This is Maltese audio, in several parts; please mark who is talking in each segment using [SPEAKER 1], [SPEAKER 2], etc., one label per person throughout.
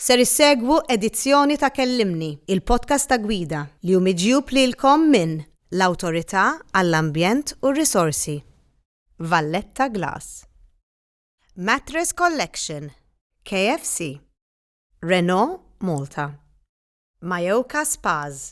[SPEAKER 1] Ser issegwu edizzjoni ta' Kellimni, il-podcast ta' Gwida, li hu miġjub lilkom minn l-Awtorità għall-Ambjent u r-Risorsi, Valletta Glass, Mattress Collection, KFC, Renault Malta, Mayoka Spas,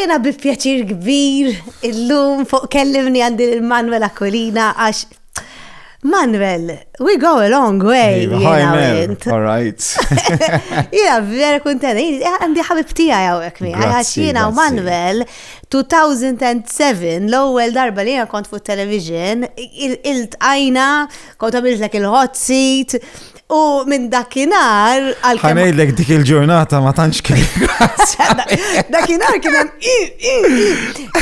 [SPEAKER 1] jena bi pjaċir kbir illum fuq kellimni għandi l-Manuel Aquilina għax Manuel, we go a long way. All right. Jena vera kontenta, għandi ħabib tija għawek mi, għax jena u Manuel 2007, l-ewwel darba li jiena kont fuq television, il-tqajna, kont għamiltlek il-hot seat, u minn dakinhar għal Ħanejdlek dik il-ġurnata ma tantx kien. Dakinhar kien hemm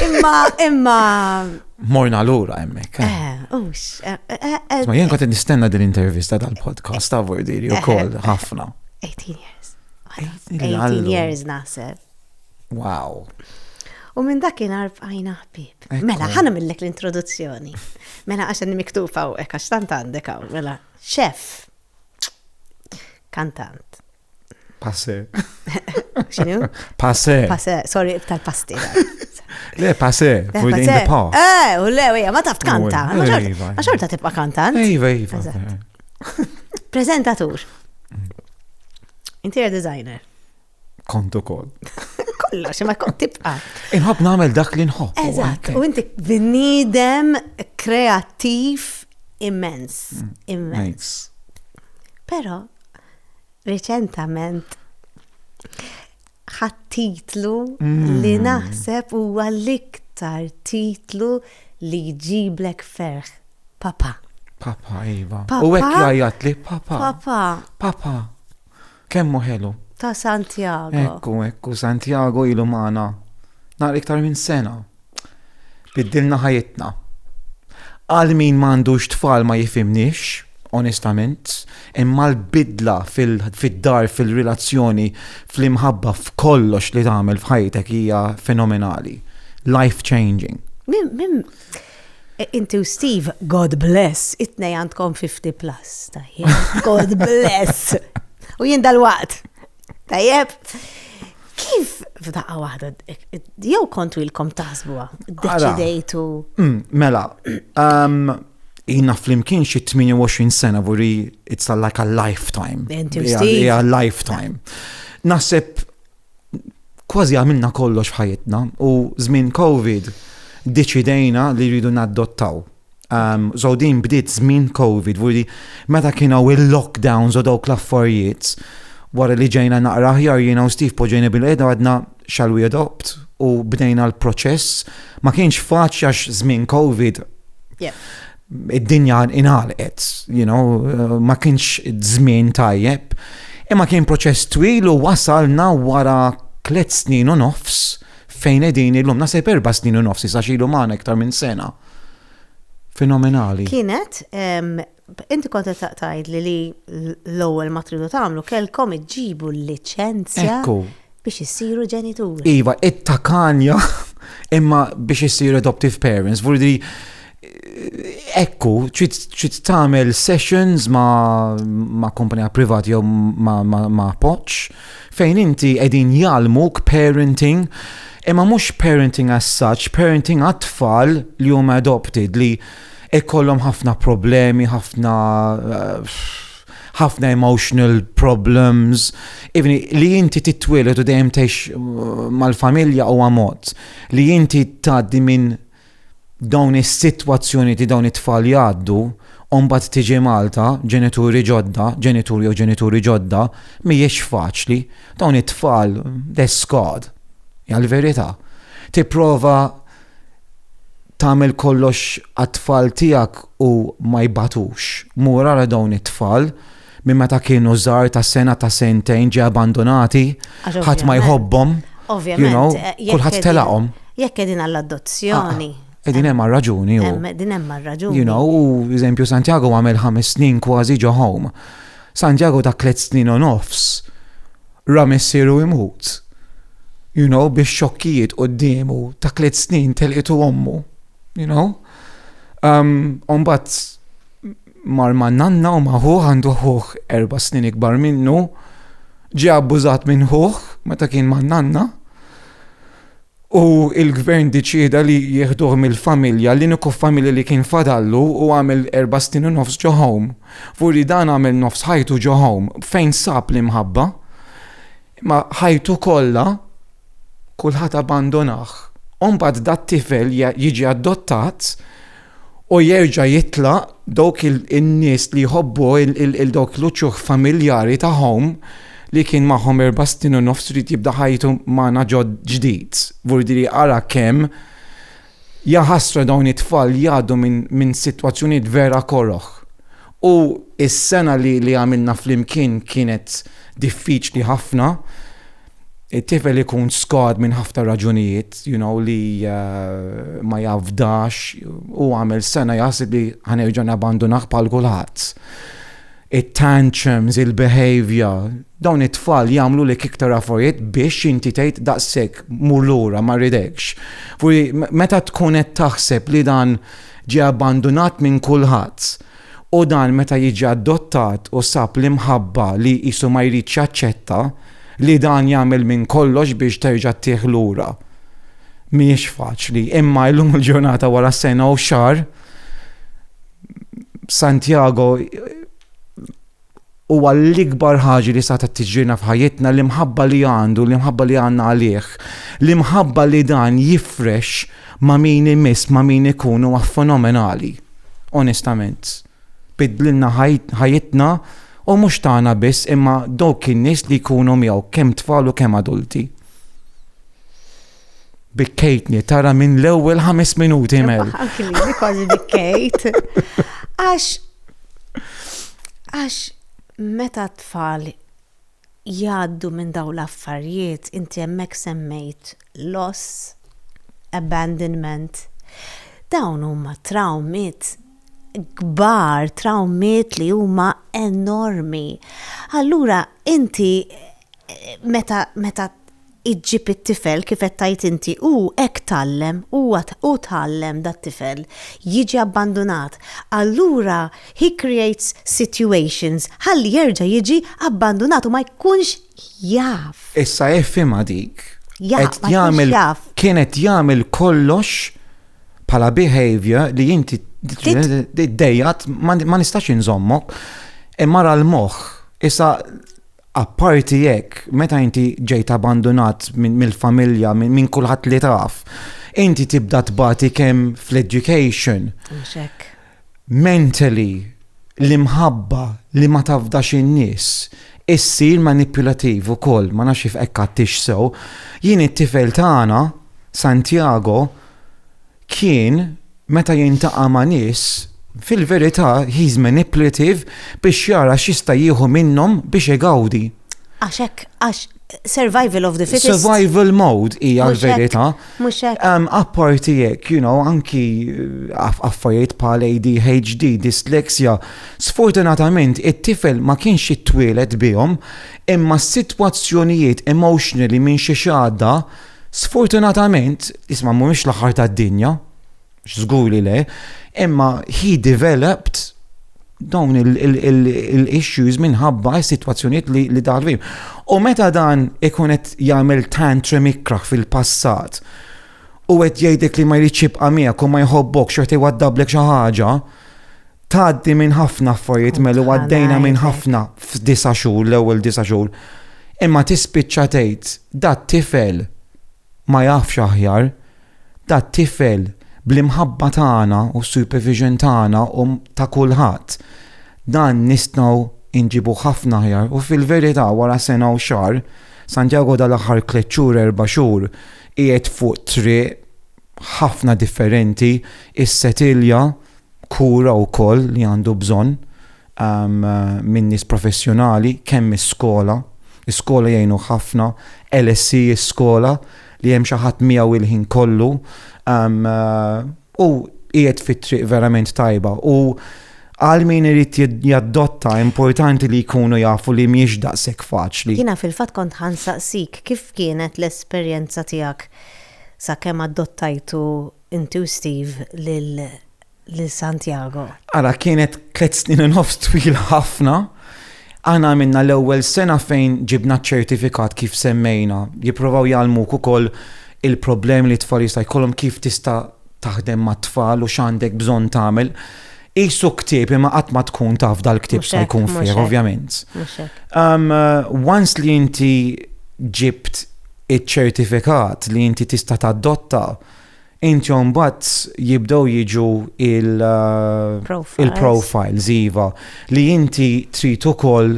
[SPEAKER 1] imma imma morna lura hemmhekk. Eh, eh, eh, ma jien kont nistenna din intervista tal-podcast ta' Vordiri ukoll ħafna. 18 years. 18 years naħseb. Wow. U minn dakinhar bqajna ħbib. Mela, ħana millek l-introduzzjoni. Mela, għaxan miktufa u ekk, għax tant għandek għaw. Mela, xef, kantant. Passe. Xinu? Passe. Passe, sorry, tal-pasti. Le, passe, eh, in the past. Eh, u le, wija, ma taf kanta. Ma xorta tibqa kantant. Ejva, ejva. Prezentatur. Mm. Interior designer. Kont ukoll. Kollox, ma kont tibqa. Inħobb nagħmel dak li nħobb. Eżatt, u inti bniedem kreattiv immens, mm, immens. Però reċentament ħadd titlu mm. li naħseb huwa l-iktar titlu li jġiblek ferħ. Papa. Papa, iva. U hekk jgħajjat li papa. Papa. Papa. Kemm hu ħelu! Ta' Santiago. Ekku, ekku, Santiago ilu magħna nhar iktar minn sena. Biddilna ħajitna. Għal min m'għandux tfal ma jifhimniex, onestament, imma l-bidla fid-dar, fil-relazzjoni, fl-imħabba, f'kollox li tagħmel f'ħajtek hija fenomenali. Life changing. Minn Inti u Steve, God bless, it-nej għandkom 50 plus. God bless. U jien dal-waqt. Tajjeb. Kif f'daqqa waħda, jew kontu ilkom taħsbuha, deċidejtu. Mm, mela, um, jina flimkien xi 28 sena vuri it's like a lifetime. Inti u Steve. lifetime. Naħseb kważi għamilna kollox f'ħajjitna u żmien COVID deċidejna li rridu naddottaw. Um, so din bdiet żmien COVID, vuri meta kienu il-lockdowns u dawk l-affarijiet, wara li ġejna naqra ħjar jiena u Steve poġejna bil-qeda għadna shall we adopt u bdejna l-proċess. Ma kienx faċli għax żmien COVID. Yeah. id-dinja inħalqet, you know, eh, ma kienx żmien tajjeb, imma kien proċess twil u wasalna wara tliet snin u nofs fejn edin illum nasib erba snin u nofs sa xilu maħna iktar minn sena. Fenomenali. Kienet, inti konta taqtajd li li l-ewwel ma tridu tagħmlu kelkom iġġibu l-liċenzja biex issiru ġenituri. Iva, it-takanja imma biex issiru adoptive parents, vurdi Ekku, ċit tamel sessions ma, ma kompanija privati jew ma, ma, ma poċ, fejn inti edin jalmuk parenting, imma mux parenting as such, parenting għat-tfal li hum adopted li ikollhom ħafna problemi, ħafna eh, ħafna emotional problems, even li inti titwilet u dejjem tex eh, mal-familja u għamot, li inti taddi minn dawn is-sitwazzjonijiet li dawn it-tfal jgħaddu u mbagħad tiġi Malta, ġenituri ġodda, ġenitur jew ġenituri ġodda, mhijiex faċli. Dawn it-tfal deskad. Hija l-verità. Tipprova tagħmel kollox għat-tfal tiegħek u ma jbatux. Mur ara dawn it-tfal Minn meta kienu żgħar ta' sena ta' sentejn ġie abbandunati, ħadd ma jħobbhom. Ovvjament, eh, kulħadd telaqhom. Jekk qegħdin għall-adozzjoni. Ah, ah, qegħdin hemm għar-raġuni. Qegħdin hemm għar-raġuni. You know, u eżempju Santiago għamel ħames snin kważi ġo home. Santiago ta' tliet snin u nofs ra missieru imut. You know, biex xokkijiet qoddiemu ta' tliet snin telqitu ommu. You know? Um, Umbat mar ma' nanna u ma' ħuħ għandu ħuħ erba' snin ikbar minnu, ġie abbużat minn ħuħ meta kien ma' nanna u il-gvern diċieda li jieħduh mill-familja, l-iniku familja li kien fadallu u għamel erba' snin u nofs ġo home. Vuri dan għamel nofs ħajtu ġo home, fejn sab l-imħabba? Imma ħajtu kollha kulħadd abbandonah. U mbagħad dat-tifel jiġi addottat u jerġa' jitlaq dawk in-nies li jħobbu il dawk l-uċuħ familjari tagħhom li kien magħhom erba' snin u nofs irid jibda ħajtu magħna ġdid. Vuol dire ara kemm jaħasra dawn it-tfal jgħaddu minn sitwazzjonijiet vera koroh. U s-sena li għamilna flimkien kienet diffiċli ħafna, it-tifel ikun skad minn ħafna raġunijiet, you know, li uh, ma jafdax u għamel sena jasib li ħanerġa nabandunaħ pal kulħadd. It-tantrums, il-behavior, dawn it-tfal jagħmlu li kiktar affarijiet biex inti tgħid daqshekk mur lura ma ridekx. Furi meta tkun qed taħseb li dan ġie abbandunat minn kulħadd, U dan meta jiġi adottat u sab l-imħabba li qisu ma jridx jaċċetta li dan jagħmel minn kollox biex terġa' ttih lura. Mhijiex faċli. Imma illum il-ġurnata wara sena u xahar Santiago huwa l-ikbar ħaġa li setgħet tiġrilna f'ħajjitna, l-imħabba li għandu, l-imħabba li għandna għalih, l-imħabba li dan jifrex ma' min imiss, ma' min ikun huwa fenomenali. Onestament. Biddlilna ħajjitna u mhux tagħna biss imma dawk in-nies li jkunu miegħu kemm tfal u kemm adulti. Bikkejtni, tara minn l-ewwel ħames minuti mel. Anki kważi bikkejt. Għax għax meta tfal jgħaddu minn daw l-affarijiet, inti hemmhekk semmejt loss, abandonment. Dawn huma trawmiet kbar, trawmiet li huma enormi. Allura inti meta meta iġġib it-tifel kif qed tgħid inti u hekk tgħallem, huwa hu tgħallem dat-tifel, jiġi abbandunat, allura he creates situations ħalli jerġa' jiġi abbandunat u ma jkunx jaf. Issa ifhimha dik. Jaf, ma jkunx jaf. Kien qed jagħmel kollox bħala behavior li inti d-dejjat ma nistax inżommok imma l-moħħ. Issa Apparti hekk, meta inti ġejt abbandunat mill-familja, minn kulħadd li taf, inti tibda tbati kemm fl-education. Mentally, l-imħabba li ma tafdax in-nies, issir manipulativ ukoll, ma nafx jif hekk għadtix sew. Jien it-tifel tagħna, Santiago, kien meta jiltaqa' ma' nies, fil-verità he's manipulative biex jara x'jista' jieħu minnhom biex igawdi. Għax hekk, għax survival of the fittest. Survival mode hija l-verità. Mhux hekk. Apparti hekk, you know, anki affarijiet bħal ADHD, dyslexia, sfortunatament it-tifel ma kienx ittwieled bihom, imma s-sitwazzjonijiet emotionally minn xi xahda Sfortunatament, isma' mhumiex l-aħħar tad-dinja, żgur li le, imma he developed dawn il-issues minħabba s-sitwazzjonijiet li daħal fihom. U meta dan ikun qed jagħmel tantrum ikrah fil-passat u qed jgħidlek li ma jridx jibqa' miegħek u ma jħobbok xorta jwaddablek xi ħaġa, Tgħaddi minn ħafna affarijiet melu għaddejna minn ħafna f'disa' xhur l-ewwel disa' xhur. Imma tispiċċa tgħid dat tifel ma jafx aħjar, dat tifel bl-imħabba tagħna u s-supervision tagħna u ta' kulħadd dan nistgħu nġibuh ħafna aħjar u fil-verità wara sena u xahar Santiago dal-aħħar tliet xhur erba' xhur qiegħed fuq triq ħafna differenti, is-setilja, kura wkoll li għandu bżonn um, minn nies professjonali, kemm is-skola, is-skola jgħinu ħafna, LSI is-skola li hemm xi ħadd miegħu il-ħin kollu um, u qiegħed fit-triq verament tajba u għal min irid jaddotta importanti li jkunu jafu li miex daqshekk faċli. Jiena fil-fatt kont ħansaqsik kif kienet l-esperjenza tiegħek Sakemm adottajtu inti u Steve lil Santiago. Ara kienet tliet snin u nofs twila ħafna. Aħna għamilna l-ewwel sena fejn ġibna ċ-ċertifikat kif semmejna. Jipprovaw jgħallmuk ukoll il-problemi li t-tfal jista' jkollhom kif tista' taħdem mat-tfal u x'għandek bżonn tagħmel. Qisu ktieb imma qatt ma tkun taf dal-ktieb x'se jkun fih ovvjament. Once li inti ġibt iċ-ċertifikat li inti tista' tadotta, inti mbagħad jibdew jiġu il-profiles iva li inti trid ukoll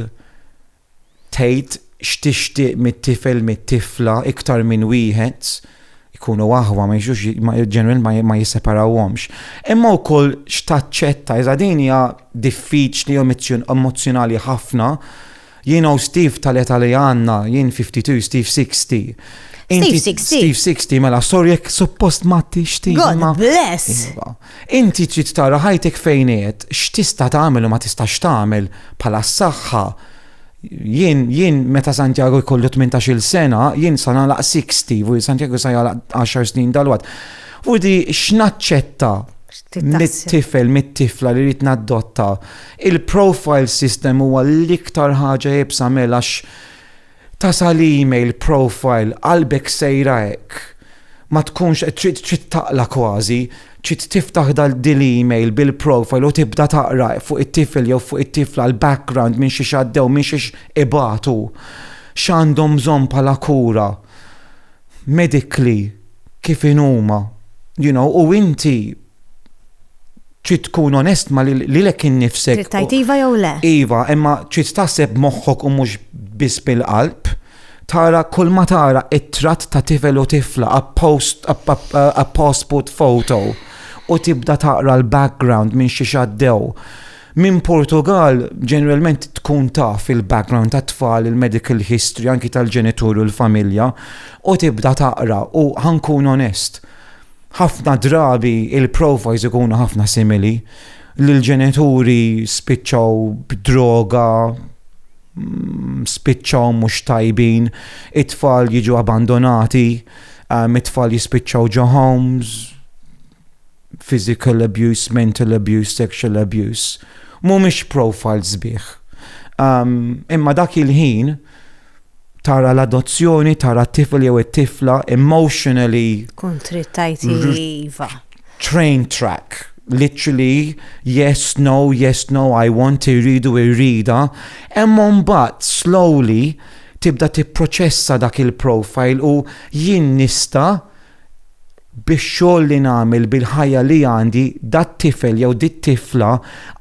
[SPEAKER 1] tgħid x'tixtieq mit-tifel mit-tifla iktar minn wieħed ikunu aħwa ma jiġux ġenwin ma jisseparawhomx. Imma wkoll x'taċċetta iżda din hija diffiċli u emozzjonali ħafna Jien hawn Steve tal-età li għandna, jien 52, Steve 60. Steve 60. Steve 60, mela, sorry jekk suppost ma tixti. God bless. Iva. Inti trid tara ħajtek fejn qed, x'tista' tagħmel u ma tistax tagħmel bħala s-saħħa. Jien, jien, meta Santiago jkollu 18 sena, jien sa nagħlaq 60, u Santiago sa jagħlaq 10 snin dal-wad. U di x'naċċetta mit-tifel, mit-tifla li rrid naddotta, Il-profile system huwa l-iktar ħaġa iebsa Mel għax tasal email profile qalbek sejra hekk ma tkunx qed trid trid taqla' kważi, trid tiftaħ dil-email bil-profile u tibda taqra fuq it-tifel jew fuq it-tifla l-background minn xiex għaddew minn xiex ibatu, x'għandhom bżonn bħala kura medically kif inhuma you know u inti trid tkun onest ma lilek innifsek. Trid tajt iva jew le. Iva, imma trid taħseb moħħok u mhux biss bil-qalb. Tara kull ma tara it-tratt ta' tifel u tifla a post a passport photo u tibda taqra l-background minn xi xaddew. Minn Portugal ġeneralment tkun taf il-background tat-tfal, il-medical history anki tal-ġenitur u l-familja u tibda taqra u ħankun onest. Ħafna drabi il-profiles ikunu ħafna simili li l-ġenituri spiċċaw b'droga, mm, spiċċaw mhux tajbin, it-tfal jiġu abbandonati, um, it-tfal jispiċċaw ġo homes, physical abuse, mental abuse, sexual abuse. Mhumiex profiles bih. Um, imma dak il-ħin tara l-adozzjoni, tara t-tifel jew it-tifla emotionally. Kontrit tajti iva. Train track, literally, yes, no, yes, no, I want, irridu, irrida. Emmon bat, slowly, tibda tipproċessa dak il-profile u jien nista biex xogħol li nagħmel bil-ħajja li għandi dat tifel jew dit tifla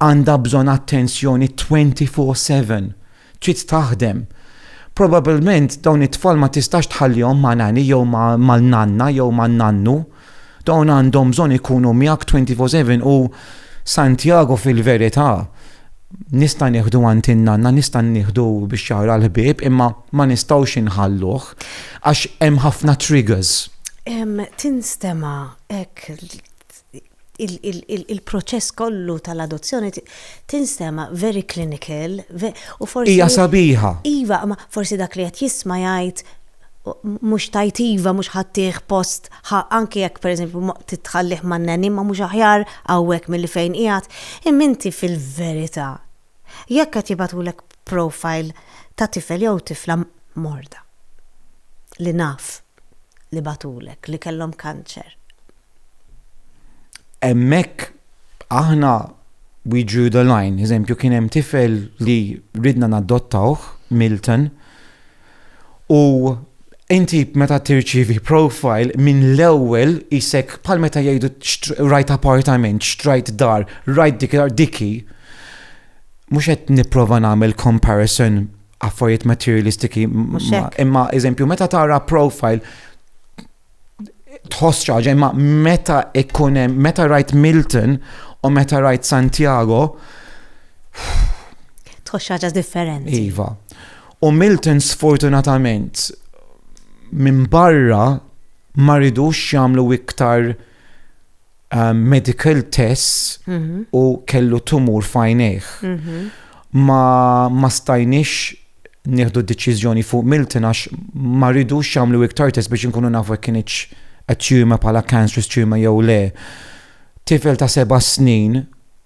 [SPEAKER 1] għandha bżonn attenzjoni 24/7. Trid taħdem. Probabbilment dawn it-tfal ma tistax tħallihom ma' nanny jew mal-nanna jew man-nannu. Dawn għandhom bżonn ikunu miegħek 24 seven u Santiago fil-verità nista' nieħdu għand in-nanna, nista' nieħdu biex jara l-ħbieb imma ma nistgħux inħalluh għax hemm ħafna triggers. Tinstema' hekk il-proċess kollu tal-adozzjoni tinstema very clinical u forsi. Hija sabiħa. Iva, ma forsi dak li qed jisma' jgħid mhux tajt iva mhux ħaddih post anke jekk pereżempju titħallih man neni ma mhux aħjar hawnhekk milli fejn qiegħed. Imma inti fil-verità jekk qed jibgħatulek profile ta' tifel jew tifla morda li naf li bagħtulek li kellhom kanċer. Hemmhekk aħna we drew the line. Eżempju, kien hemm tifel li ridna nadottawh, Milton, u inti meta tirċivi profile minn l-ewwel isek bħal meta jgħidu rajt apartament, xtrajt dar, rajt dik dar diki. Mhux qed nipprova nagħmel comparison affarijiet materialistiki imma eżempju meta tara profile tħoss xi ħaġa imma meta ikun hemm meta rajt Milton u meta rajt Santiago tħoss xi ħaġa differenti. Iva. U Milton sfortunatament minn barra ma ridux jagħmlu iktar um, medical tests mhm. u kellu tumur fajnejh. Mhm. Ma, ma stajniex nieħdu deċiżjoni fuq Milton għax ma ridux jagħmlu iktar test biex inkunu nafu jekk kienx qed tirma bħala cancerous tirma jew le. Tifel ta' seba' snin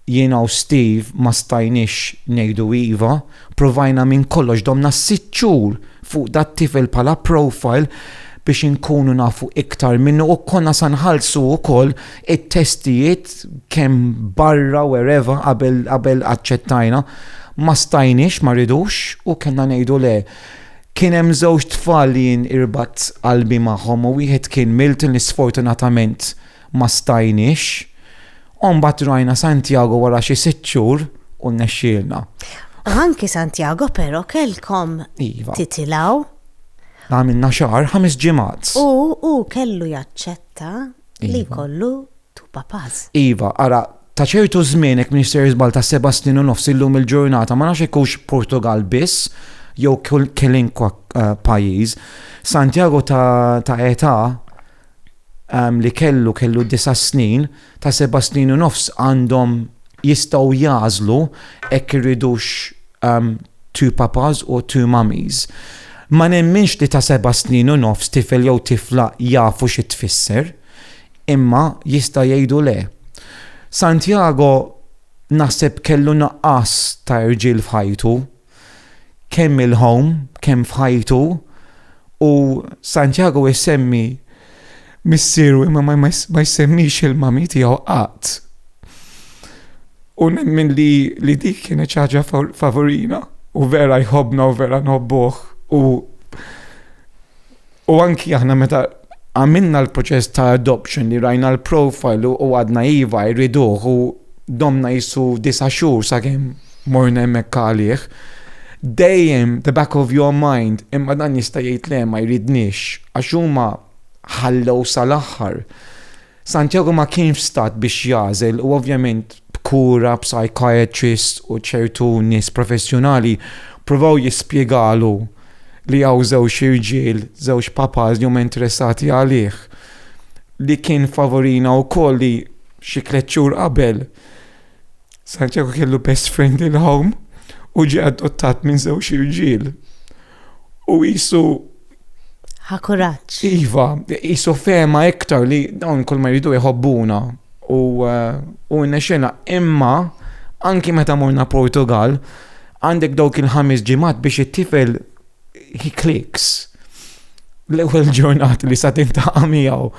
[SPEAKER 1] Jiena u Steve ma stajniex ngħidu iva, provajna minn kollox domna sitt xhur fuq dat-tifel bħala profile biex inkunu nafu iktar minnu u konna sa nħallsu ukoll it-testijiet kemm barra wherever qabel aċċettajna. Ma stajniex ma rridux u kellna ngħidu le. Kien hemm żewġ tfal li jien irbadt qalbi magħhom u wieħed kien Milton li sfortunatament ma stajniex, u mbagħad rajna Santiago wara xi sitt xhur u rnexxielna. Anki Santiago però kellkom iva. titilgħu. Għamilna xahar ħames ġimgħat. U u kellu jaċċetta iva. li kollu tu papaz. Iva, ara ta' ċertu żmien hekk Minister Iżbal ta' seba' snin u nofs illum il-ġurnata ma nafx ikux Portugal biss jew kilinkwa eh, pajjiż. Santiago ta' età li kellu kellu disa' snin, ta' seba' snin u nofs għandhom jistgħu jagħżlu hekk iridux two papas u two mummies. Ma nemminx li ta' seba' snin u nofs tifel jew tifla jafu xi tfisser, imma jista' jgħidu le. Santiago naħseb kellu nuqqas ta' irġiel f'ħajtu. kemm il-ħom, kemm f'ħajtu, u Santiago jsemmi missieru imma ma jsemmix il-mami tiegħu qatt. U nemmen li, li dik kienet ċaġa favorina u vera jħobna u vera nħobbuħ u U anki aħna meta għamilna l-proċess ta' adoption li rajna l-profile u għadna iva jriduh u domna jissu disa' xhur sakemm morna hemmhekk għalih, dejjem the back of your mind imma dan jista' jgħid le ma jridniex għax huma ħallew sal-aħħar. Santiago ma kienx f'stat biex jagħżel u ovvjament b'kura psychiatrist u ċertu nies professjonali pruvaw jispjegalu li hawn żewġ irġiel, żewġ papas li huma interessati għalih, li kien favorina wkoll li xi tliet xhur qabel Santiago kellu best friend il-home u ġie adottat minn żewġ irġiel. U jisu. Ħakuraċ. Iva, jisu fema iktar li dawn kull ma jridu jħobbuna. U eh, nexxena imma anki meta morna Portugal, għandek dawk il-ħames ġimat biex it-tifel he clicks l-ewwel ġurnat li sa tintaqa' miegħu.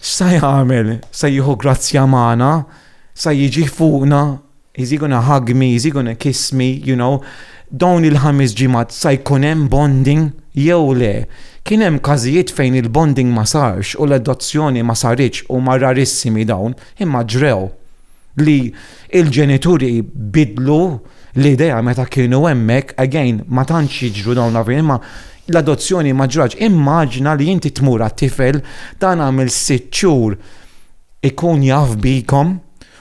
[SPEAKER 1] Sa jagħmel, sa jieħu grazzja magħna, sa jiġi fuqna, He's he gonna hug me, is he gonna kiss me, you know, dawn il-ħames ġimgħat sa jkun hemm bonding jew le. Kien hemm każijiet fejn il-bonding ma sarx u l-adozzjoni ma saritx huma rarissimi dawn, imma ġrew. Li l-ġenituri biddlu l-idea meta kienu hemmhekk, again, ma tantx jiġru dawn l-affarijiet, imma l-adozzjoni ma ġratx. Immaġina li inti tmur għat-tifel dan għamel sitt xhur ikun jaf bikom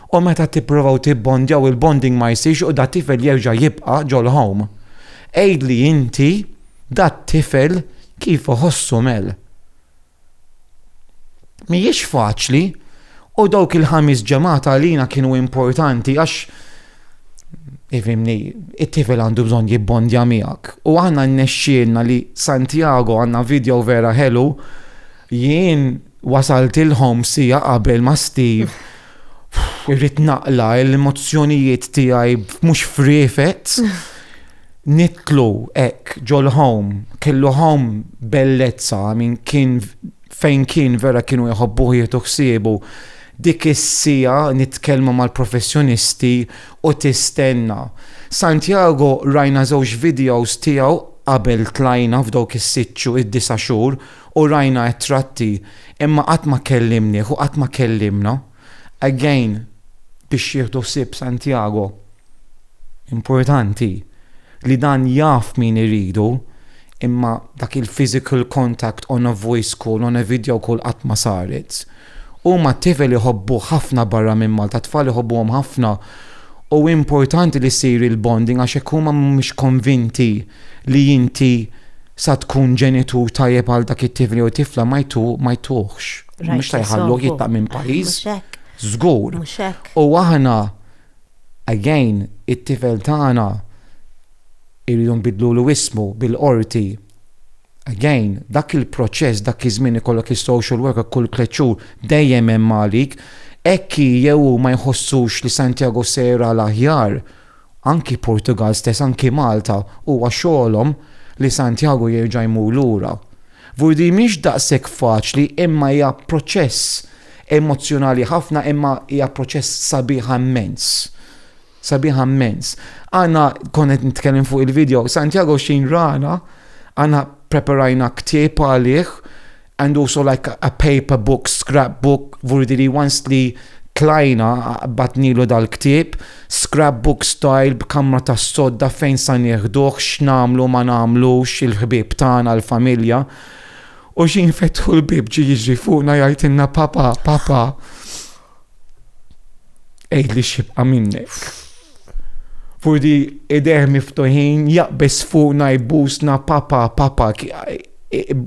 [SPEAKER 1] U meta tipprovaw tibbondjaw il-bonding ma jsirx u dat-tifel jerġa' jibqa' ġol-home. Għidli inti dat-tifel kif iħossu Mel. Mhijiex faċli u dawk il-ħamis ġemgħat għalina kienu importanti għax ifhimni it-tifel għandu bżonn jibbondja miegħek. U aħna nnexxielna li Santiago għandna video vera ħelu jien Wasaltilhom siegħa qabel ma' Steve irrid naqla' l-emozzjonijiet tiegħi mhux friefet. Nidħlu hekk ġol-home, kellu home bellezza, I mean kien fejn kien vera kienu jħobbuh jieħdu ħsiebu. Dik is-siegħa nitkellmu mal-professjonisti u tistenna. Santiago rajna żewġ videos tiegħu qabel tlajna f'dawk is-sitt xhur, id-disa' xhur, U rajna t-tratti imma qatt ma kellimnieh u qatt ma kellimna. Again, biex jieħdu ħsieb Santiago, importanti li dan jaf min iridu imma dak il-physical contact on a voice call, on a video call qatt ma saret. Huma t-tifel iħobbuh ħafna barra minn Malta, t-tfal iħobbuhom ħafna u importanti li ssir il-bonding għax hekk huma mhumiex konvinti li inti sa tkun ġenitur tajjeb għal dak it-tifel jew tifla ma jtu ma jtuħx. Mhux ta' jħalluh jitlaq minn pajjiż. Żgur. U aħna again it-tifel tagħna irridu nbidlulu ismu bil-qorti. Again, dak il-proċess dak iż-żmien ikollok is-social worker kull tliet xhur dejjem hemm għalik. Hekk jew ma jħossux li Santiago sejra l-aħjar Anki Portugal stess anki Malta huwa xogħolhom li Santiago jerġa' jmur lura. Vur di mhix daqshekk faċli imma hija proċess emozzjonali ħafna imma hija proċess sabiħa mmens. Sabiħa mmens. Għandna kont qed nitkellem fuq il-video, Santiago x'inrana għandna preparajna ktieb għalih and also like a paper book, scrap book, vuridi li once li tlajna batnilu dal-ktieb, scrap book style b'kamra tas-sodda fejn sa nieħduh, x'nagħmlu ma nagħmlux, il-ħbieb tagħna, l-familja. U xi nfetħu l-bieb ġie jiġri fuqna jgħidilna papa, papa. Ejd li xibqa minnek. Furdi ideħ miftuħin jaqbis fuqna jbusna papa, papa,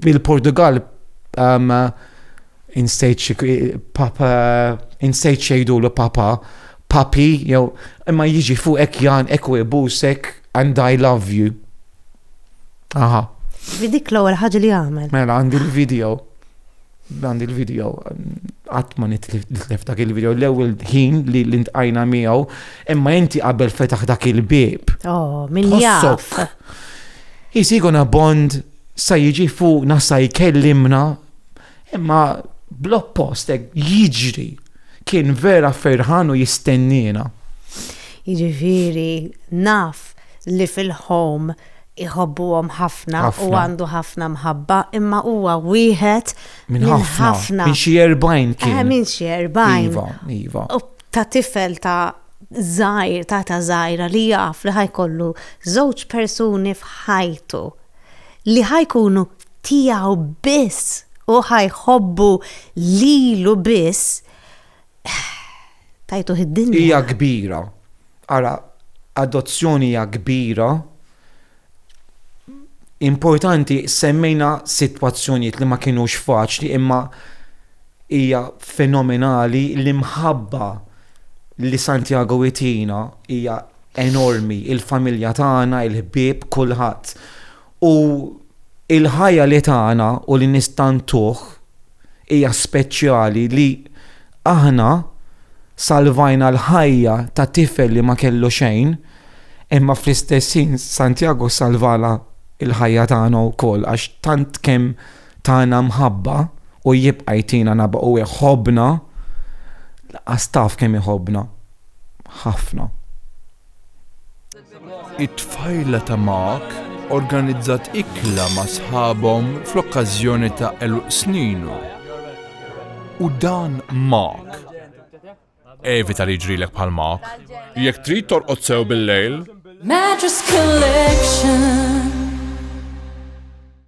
[SPEAKER 1] bil-Portugal um, insejt papa, insejt xejdu l papa, papi, jew imma jiġi fuq ek jan ek u jbusek and I love you. Aha. Vidik l-ewwel ħaġa li għamel. Mela għandi l-video. Dan il-video, qatt ma nitlef dak il-video, l-ewwel ħin li l-intqajna miegħu, imma inti qabel fetaħ dak il-bieb. Oh, minn jaf. Jisiguna bond sa jiġi fuqna sa jkellimna, imma bl-oppost jiġri kien vera ferħan u jistennina. Jiġifieri naf li fil-home iħobbuhom ħafna u għandu ħafna mħabba, imma huwa wieħed minn ħafna. Minn xi erbajn kien. Eh, minn xi erbajn. Iva, iva. Ta' tifel ta' żgħir, ta' ta' żgħira li jaf li ħajkollu żewġ persuni f'ħajtu li ħajkunu tiegħu biss u ħajħobbu lilu biss Tajtuh id-dinja. Hija kbira. Ara, adozzjoni hija kbira. Importanti semmejna sitwazzjonijiet li ma kinux faċli imma hija fenomenali l-imħabba li Santiago itina hija enormi, il-familja tagħna, il-ħbieb, kulħadd. U l-ħajja li tagħna u li nistantuh hija speċjali li aħna salvajna l-ħajja ta' tifel li ma kellu xejn, imma fl-istess ħin Santjago salvana l-ħajja tagħna wkoll għax tant kemm tana mħabba u jibqa' jtina nabha u jħobbna, lanqas taf kemm jħobbna. Ħafna. It-tfajla ta' Mark organizzat ikla ma' sħabhom fl-okkażjoni ta' għeluq sninu. U dan Mark. Evita li jġrilek bħal Mark. Jekk trid torqod sew bil-lejl. Mattress Collection.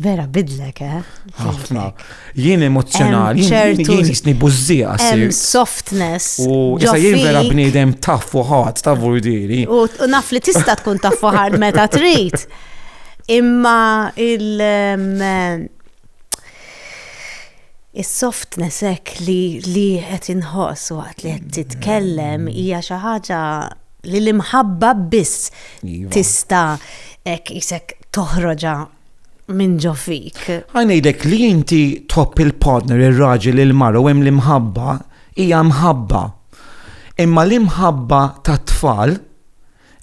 [SPEAKER 1] Vera bidlek, eh? Ħafna. Jien emozjonali, jien jisni buzzija. Hemm softness. U jisa jien vera bniedem taf fuħat, ta' vurdiri. U naf li tista' tkun taf fuħat meta trid. Imma il- Is-softness hekk li li qed inħoss waqt li qed titkellem hija xi ħaġa li l-imħabba biss iva. tista' hekk isek toħroġa minn ġo fik. Għanajdek li inti tħobb il-partner, il-raġel, il-mara u hemm l-imħabba, hija mħabba. Imma l-imħabba ta' tfal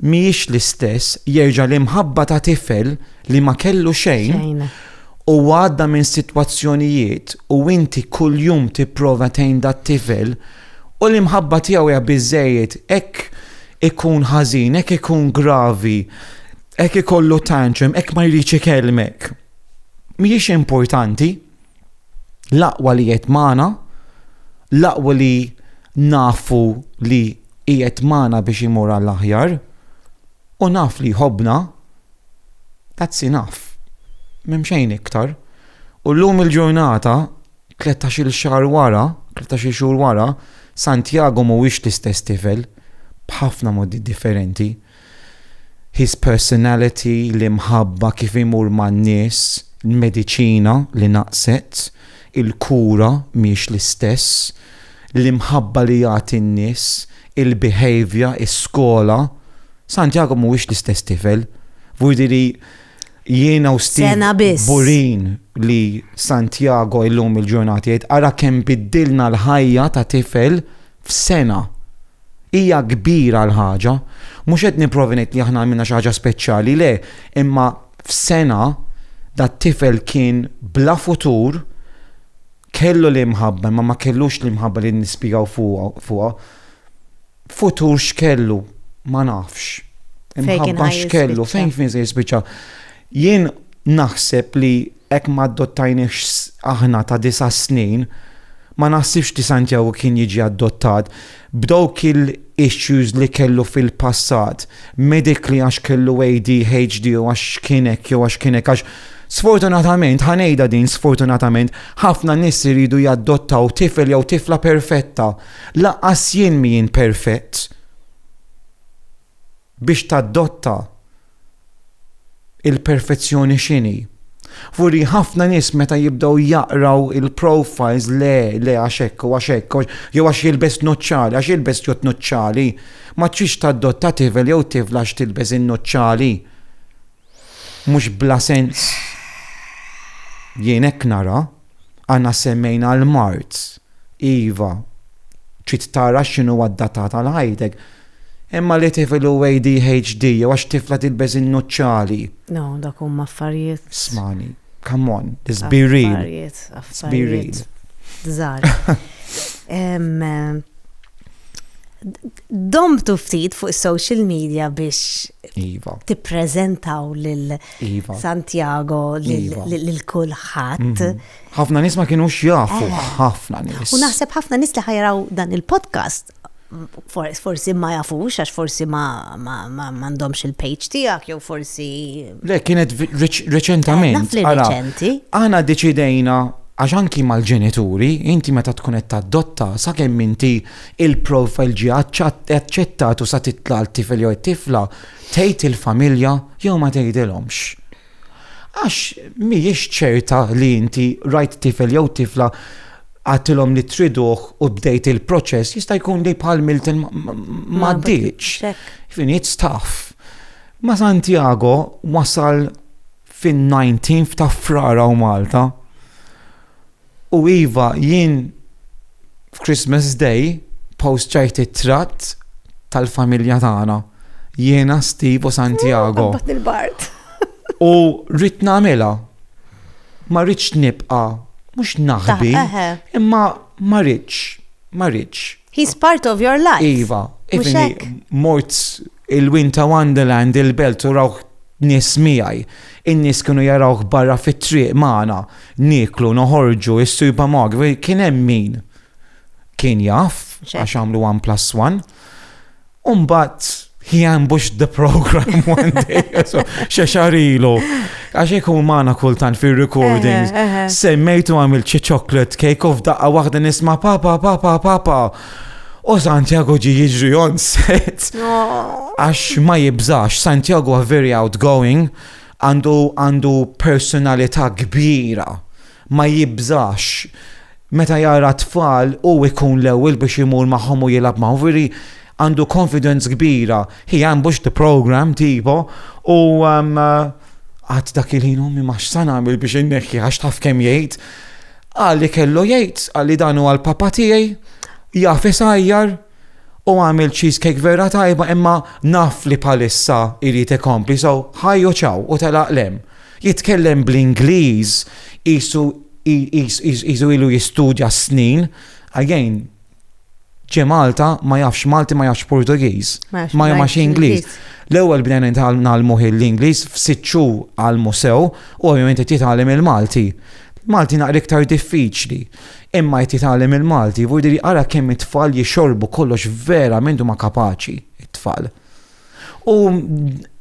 [SPEAKER 1] miex l-istess jerġa' l-imħabba ta' tifel li ma kellu xejn u għadda minn sitwazzjonijiet u inti kuljum tipprova tgħin dat tifel U l-imħabba tiegħu hija biżżejjed, hekk ikun ħażin, hekk ikun gravi, hekk ikollu tantrum, hekk ma jridx ikellmek. Mhijiex importanti l-aqwa li qed magħna, l-aqwa li nafu li qiegħed magħna biex imur għall-aħjar, u naf li jħobbna, that's enough. M'hemm xejn iktar. U llum il-ġurnata Tletax-il xahar wara, tletax-il xhur wara, Santiago mhuwiex l-istess tifel, b'ħafna modi differenti. His personality, l-imħabba, kif imur man-nies, il-mediċina li naqset, il-kura mhiex l-istess, l-imħabba li jagħti n-nies, il-behaviour, is-skola. Santiago mhuwiex l-istess tifel. Vuol dire li Jiena u Steve Sena biss. kburin li Santiago illum il-ġurnata jgħid ara kemm biddilna l-ħajja ta' tifel f'sena. Hija kbira l-ħaġa. Mhux qed nipprova ngħid li aħna għamilna xi ħaġa speċjali, le, imma f'sena dat-tifel kien bla futur, kellu l-imħabba imma ma kellux l-imħabba li nispjegaw fuqha, fuqha. Futur x'kellu, ma nafx. Imħabba x'kellu, fejn fin se jispiċċa. Jien naħseb li hekk ma adottajniex aħna ta' disa' snin, ma naħsibx li Santiago kien jiġi adottat b'dawk il-issues li kellu fil-passat, medically għax kellu ADHD u għax kien hekk jew għax kien hekk għax Sfortunatament, ħanejda din sfortunatament, ħafna nies iridu jaddottaw tifel jew tifla perfetta Lanqas jien mhijin perfett biex tadotta il-perfezzjoni x'inhi. Vuri ħafna nies meta jibdew jaqraw il-profiles le, le għax hekk u għax hekk, jew għax jilbes nuċċali, għax jilbes jott nuċċali, ma tridx tadotta tifel jew tifla għax tilbes in-nuċċali. Mhux bla sens jien hekk nara, aħna semmejna l-mard, iva, trid tara x'inhu adattat għal ħajtek, imma li tifel hu ADHD jew għax tifla tilbes in-nuċċali. No, dak huma affarijiet. Smani, come on, let's be real. Affarijiet, affarijiet. Żgħar. domtu ftit fuq social media biex iva. tippreżentaw lil iva. Santiago lil iva. kulħadd. Mhm. Ħafna nies ma kienu xjafu, eh. ħafna nies. U naħseb ħafna nies li ħajraw dan il-podcast forsi ma jafux, għax forsi ma għandhomx il-page tijak, jew forsi. Le, kienet reċentament. Eh, reċenti. Għana deċidejna għax anki mal-ġenituri, inti meta tkun qed tadotta sakemm inti il-profile ġie aċċettat u sa titla' t-tifel jew it-tifla tgħid il-familja jew ma tgħidilhomx. Għax mhijiex ċerta li inti rajt tifel jew tifla għattilhom li triduh u bdejt il-proċess jista' jkun li bħal Milton ma ddiċ. Finit staff. Ma Santiago wasal fin-19 ta' frara u Malta. U iva, jien f'Christmas Day posċajt it-tratt tal-familja tagħna. Jiena Steve u Santiago. Qabbat il-bart. U rrid nagħmilha. Ma rridx nibqa' mhux naħbi, imma ma rridx, ma rridx. He's part of your life. Iva, mort Il-win ta' Wonderland, il-belt u rawh nies miegħi. In-nies kienu jarawh barra fit-triq magħna, nieklu, noħorġu, is-sujba Margaret, u kien hemm min kien jaf għax għamlu one plus one. U mbagħad he ambushed the programme one day, xe xahar ilu. Għax ikun magħna kultant fir-recordings, semmejtu għamil xi chocolate cake u f'daqqa waħda nisma' papa, papa, papa. U Santiago ġi jiġri on set. Għax ma jibżax, Santiago very outgoing, għandu għandu personalità kbira. Ma jibżax. Meta jara tfal u ikun l-ewwel biex imur magħhom u jilgħab magħhom veri għandu confidence kbira. He ambushed the program tipo u um, għad dak il-ħin ummi ma x'san għamil biex inneħħi għax taf kemm jgħid. Qal li kellu jgħid, qal li dan huwa l-papa tiegħi, jaf isajjar, u għamil cheesecake vera tajba imma naf li palissa irid ikompli so ħajju ċaw u telaq lem. Jitkellem bl-Ingliż isu ilu jistudja snin, again, ġie Malta ma jafx Malti ma jafx Portugiż, ma jafx Ingliż. L-ewwel bdejna nitgħallmu l-Ingliż f'sitt xhur għal musew u ovvjament qed jitgħallem il-Malti. Malti naqra iktar diffiċli. Imma qed jitgħallem il-Malti, vuol dire ara kemm it-tfal jixorbu kollox vera minn huma kapaċi it-tfal. U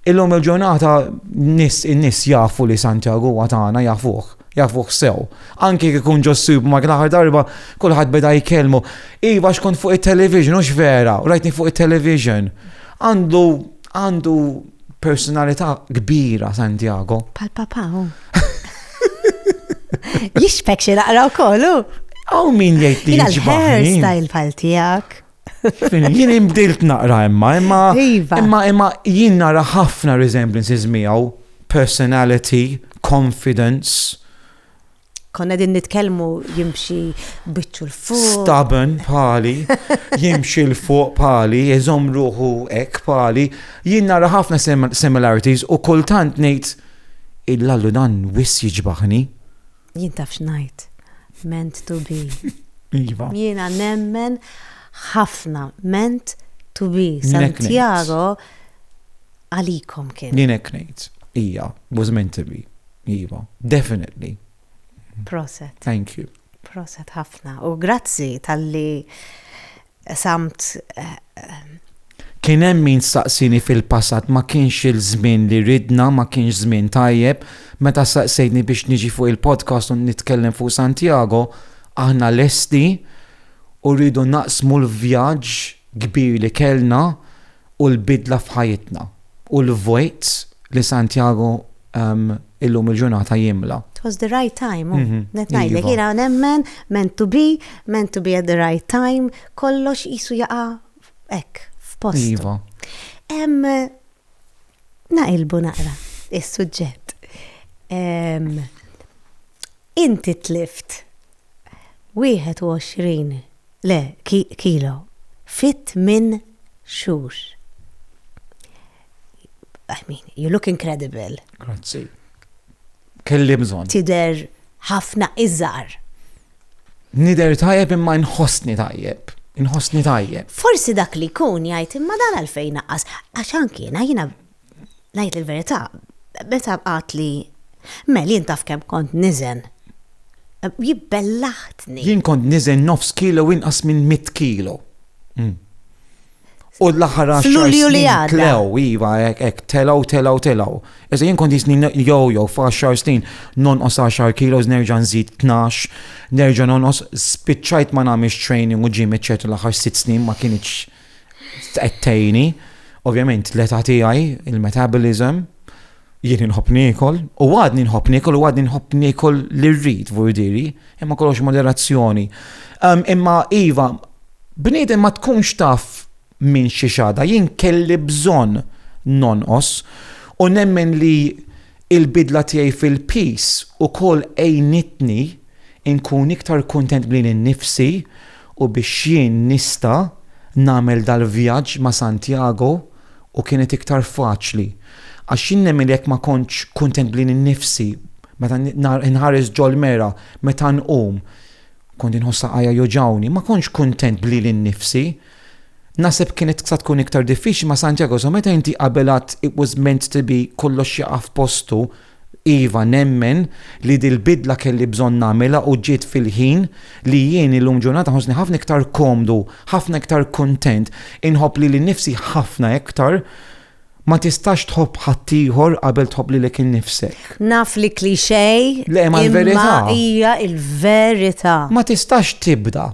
[SPEAKER 1] illum il-ġurnata nis in-nis jafu li Santiago huwa tagħna jafuh, jafuh sew. Anki kif ikun ġossib ma l-aħħar darba kulħadd beda jkellmu. Iva xkont fuq it-television hux vera, rajtni fuq it-television. Għandu għandu personalità kbira Santiago. Pal papa hu. Jixfek xi naqra wkoll hu. Aw min jgħid li jixbaħ. Hairstyle pal tiegħek. Jien imbdilt naqra imma, imma iva. imma imma jien nara ħafna resemblances miegħu, personality, confidence. Konna din nitkellmu jimxi biċċu l-fuq. Stubborn pali, jimxi l-fuq pali, jizom ruħu ek pali, jien nara ħafna similarities u kultant ngħid il-lallu dan wis jiġbaħni. Jien taf x'ngħid, meant to be. Iva. Jiena nemmen ħafna, meant to be. Santiago għalikom kien. Jien hekk ngħid. Ija, was meant to be. Iva, definitely. Proset. Thank you. Proset ħafna. U grazzi tal-li Qsamt Kien hemm min staqsieni fil-passat ma kienx il-żmien li ridna, ma kienx żmien tajjeb. Meta staqsejtni biex niġi fuq il-podcast u nitkellem fuq Santiago, aħna lesti u rridu naqsmu l-vjaġġ kbir li kellna u l-bidla f'ħajjitna u l-vojt li Santiago illum il-ġurnata jimla. It was the right time, oh. mhm. net ngħidlek, iva. jiena nemmen meant to be, meant to be at the right time, kollox qisu jaqa' hekk f'post. Iva. Hemm naqilbu naqra is-suġġett. Inti tlift 21 le, kilo, fi tmien xhur. I mean, you look incredible. Grazzi. Kelli bżonn. Tidher ħafna iżgħar. Nidher tajjeb imma nħossni tajjeb. Inħossni tajjeb. Forsi dak li jkun jgħid imma dan għalfejn naqqas. Għax anki jiena jiena Ngħid il-verità, meta qatt li Mel jien taf kemm kont niżen. Jibbellaħtni. Jien kont niżen nofs kilo u inqas minn mitt kilo. U l-aħħar għaxar snin. F'Lulju li għadda. Tlew, iva, hekk telgħu, telgħu, telgħu. Iżda jien kont jisni jew jew f'għaxar snin nonqos għaxar kilos nerġa' nżid tnax, nerġa' nonqos spiċċajt ma nagħmilx training u ġim eċċetera l-aħħar sitt snin ma kinitx. Qed tgħinni, ovvjament l-età tiegħi, il-metabolism, jien nħobb niekol, u għadni nħobb niekol, u għadni nħobb niekol li rrid vurdiri, imma kollox moderazzjoni. Ehm, imma Iva, bniedem ma tkunx taf minn xi xada, jien kelli bżonn nonqos u nemmen li il-bidla tiegħi fil-pis u kol ejnitni inkun iktar kontent bli nifsi U biex jien nista' nagħmel dal-vjaġġ ma' Santiago u kienet iktar faċli. Għax jien nemmen li jekk ma kontx kuntent b'lili nnifsi meta nħares ġol-mera, meta nqum, kont inħoss saqajja joġgħuni, ma kontx kuntent b'lili nnifsi. Naħseb kienet sa tkun iktar diffiċli ma' Santiago, so meta inti qabel għad it was meant to be kollox jaqa' f'postu, Iva, nemmen li dil-bidla kelli bżonn nagħmilha u ġiet fil-ħin, li jien illum ġurnata nħossni ħafna iktar komdu, ħafna iktar kuntent, inħobb lili nnifsi ħafna iktar, Ma tistax tħobb ħaddieħor qabel tħobb lilek innifsek. Naf li cliché, imma hija l-verità. Ma tistax tibda